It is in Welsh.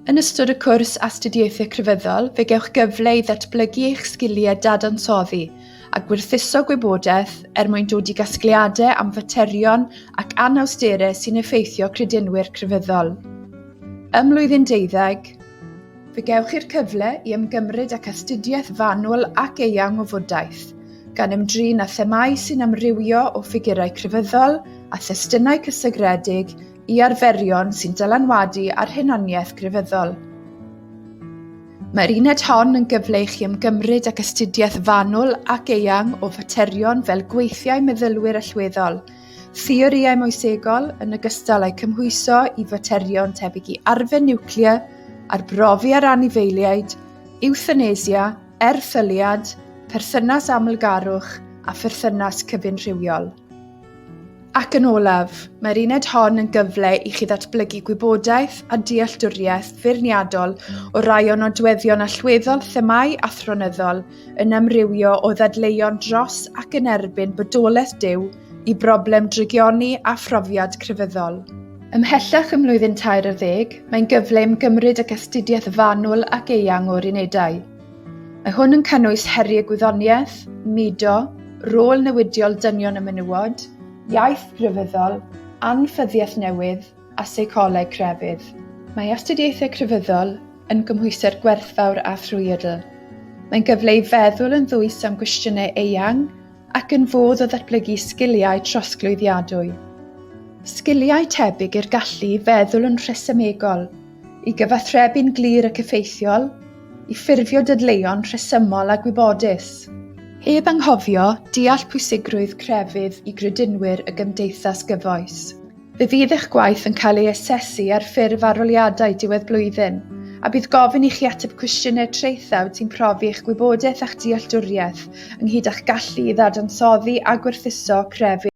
Yn ystod y cwrs Astudiaethau Crefyddol, fe gewch gyfle i ddatblygu eich sgiliau dadansoddi a gwerthuso gwybodaeth er mwyn dod i gasgliadau am faterion ac anawsterau sy'n effeithio credinwyr crefyddol. Ym mlwyddyn deuddeg, Fe gewch chi'r cyfle i ymgymryd ac astudiaeth fanwl ac eang o fodaeth, gan ymdrin â themau sy'n amrywio o ffigurau crefyddol a thestunau cysegredig i arferion sy'n dylanwadu ar hunaniaeth grefyddol. Mae'r uned hon yn gyfle i chi ymgymryd ac astudiaeth fanwl ac eang o faterion fel gweithiau meddylwyr allweddol, Theorïau moesegol, yn ogystal â'i cymhwyso i faterion tebyg i arfer niwclear, arbrofi ar anifeiliaid, ewthanesia, erthyliad, perthynas amlgarwch a pherthynas cyfunrhywiol. Ac yn olaf, mae'r uned hon yn gyfle i chi ddatblygu gwybodaeth a dealltwriaeth feirniadol o rai o nodweddion allweddol themâu athronyddol yn amrywio o ddadleuon dros ac yn erbyn bodolaeth Duw i broblem drygioni a phrofiad crefyddol. Ymhellach ym mlwyddyn tair ar ddeg, mae'n gyfle i'm gymryd ac astudiaeth fanwl ac eang o'r unedau. Mae hwn yn cynnwys heriau gwyddoniaeth, mudo, rôl newidiol dynion y menywod, iaith grefyddol, anffyddiaeth newydd, a seicoleg crefydd. Mae astudiaethau crefyddol yn gymhwysedd gwerthfawr a thrwyadl. Mae'n gyfle i feddwl yn ddwys am gwestiynau eang ac yn fodd o ddatblygu sgiliau trosglwyddiadwy. Sgiliau tebyg i'r gallu i feddwl yn rhesymegol, i gyfathrebu'n glir ac effeithiol, i ffurfio dadleuon rhesymol a gwybodus. Heb anghofio deall pwysigrwydd crefydd i gredinwyr y gymdeithas gyfoes. Fe fydd eich gwaith yn cael ei asesu ar ffurf arholiadau diwedd blwyddyn, a bydd gofyn i chi ateb cwestiynau traethawd sy'n profi eich gwybodaeth a'ch dealltwriaeth, ynghyd â'ch gallu i ddadansoddi a gwerthuso crefydd.